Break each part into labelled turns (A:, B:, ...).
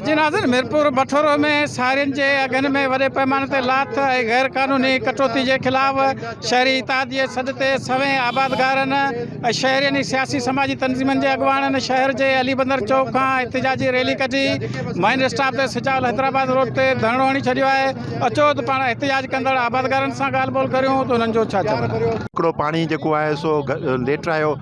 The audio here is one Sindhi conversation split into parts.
A: جي ناظرين ميرپور بٺورو ۾ سارين جي اگهن ۾ وڏي پئماني تي لاٿ ۽ غير قانوني ڪٽوتي جي خلاف شهري اتحاديي جي سڏ تي سوين آبادگارن ۽ شهرين ۽ سياسي سماجي تنظيمن جي اڳواڻن شهر جي علي بندر چوڪ کان احتجاجي ريلي ڪڍي مائن اسٽاپ تي سجاء الحيدرآباد روڊ تي ڌرڻو هڻي ڇڏيو آهي اچو ته پاڻ احتجاج ڪندڙ آبادگارن سان ڳالهه ٻولهه ڪريون ته انهن جو ڇا چوڻ آهي. ڪڙو پاڻي جيڪو
B: آهي سو ليٽرايو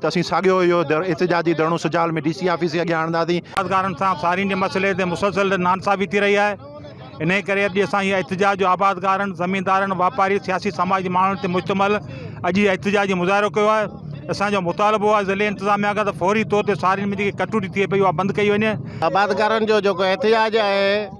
B: ته اسين ساڳيو اهو احتجاجي ڌرڻو سجاول ۾ ڊي سي آفيس جي اڳيان هڻنداسين. آبادگارن سان سارين
C: جي مسئلي تي مسلسل نانصافي ٿي رهي آهي، انهيء ڪري اڄ اسان هي احتجاج جو آبادگارن، زميندارن، واپارين، سياسي سماج جي ماڻهن تي مشتمل اڄ هي احتجاجي مظاهرو ڪيو آهي. اسان جو مطالبو آهي ضلعي انتظاميا کان ته فوري طور تي سارين ۾ جيڪي ڪٽوتي ٿئي پئي اها بند ڪئي وڃي. آبادگارن جو
D: جيڪو احتجاج آهي.